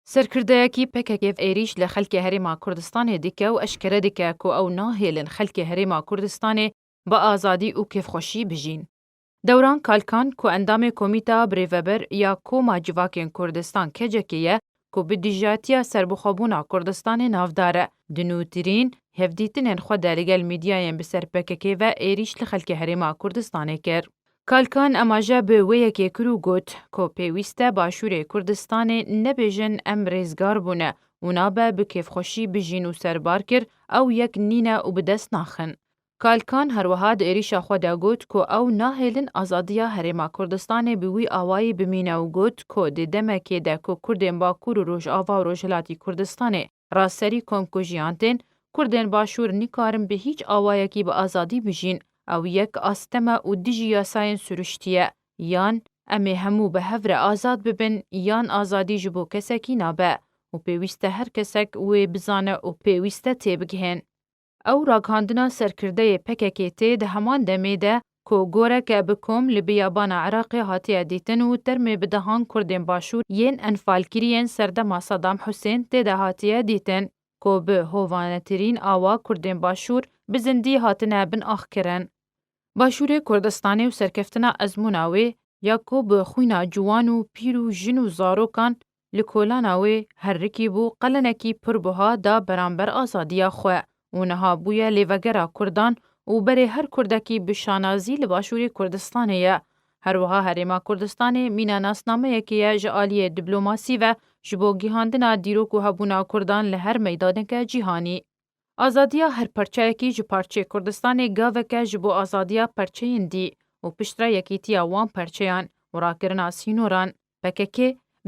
Serkirdeyekî PKK'ê êrîş li xelkê Herêma Kurdistanê dike û eşkere dike ku ew nahêlin xelkê Herêma Kurdistanê bi azadî û kêfxweşî bijîn. Dewran Kalkan ku endamê Komîteya Birêveber ya Koma Civakên Kurdistan KCK'ê ye ku bi dijatiya serbixwebûna Kurdistanê navdar e, di nûtirîn hevdîtinên xwe de li gel mîdyayên bi ser PKK'ê ve êrîş li xelkê Herêma Kurdistanê kir. Kalkan emaje bi wê yekê kir û got ku pêwîst e Başûrê Kurdistanê nebêjin em rêzgar bûne û nabe bi kêfxweşî bijîn û serbar kir ew yek nîne û bi dest naxin. Kalkan her wiha di êrîşa xwe de got ku ew nahêlin azadiya Herêma Kurdistanê bi wî awayî bimîne û got ku di demekê de ku Kurdên Bakûr û Rojava û Rojhilatî Kurdistanê Ra serî kom ku jiyan tên, Kurdên Başûr nikarin bi hîç awayekî bi azadî bijîn. Ew yek asteme û dijî yasayên sirûştî ye. Yan em ê hemû bi hev re azad bibin yan azadî ji bo kesekî nabe û pêwîste her kesek wê bizane û pêwîste têbigihên. Ew ragihandina serkirdeyê PKK'ê tê di heman demê de ku goreke bi kom li biyabana Iraqê hatiye dîtin û termê bi dehan Kurdên Başûr yên enfalkiriyên serdema Sadam Husên tê de hatiye dîtin ku bi hovanetirîn awa Kurdên Başûr bi zindî hatine bin axkirin. Başûrê Kurdistanê û serkeftina ezmûna wê ya ku bi xwîna ciwan û pîr û jin û zarokan li kolana wê herikî bû qelenekî pir buha da beramber azadiya xwe û niha bûye lêvegera Kurdan û berê her Kurdekî bi şanazî li Başûrê Kurdistanê ye. Her wiha Herêma Kurdistanê mîna nasnameyekê ye ji aliyê diblomasî ve ji bo gihandina dîrok û hebûna Kurdan li her meydaneke cîhanî. Azadiya her parçeyekî ji parçeyê Kurdistanê gaveke ji bo azadiya perçeyên dî û piştre yekîtiya wan perçeyan û rakirina sînoran. Pkk,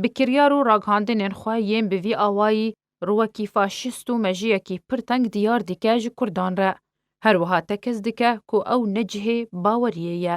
bi kiryar û raghandinên xwe yên bi vî awayî rûwekî faşîst û mejiyekî pir teng diyar dike ji Kurdan re. Her wiha tekez dike ku ew ne cihê baweriyê ye.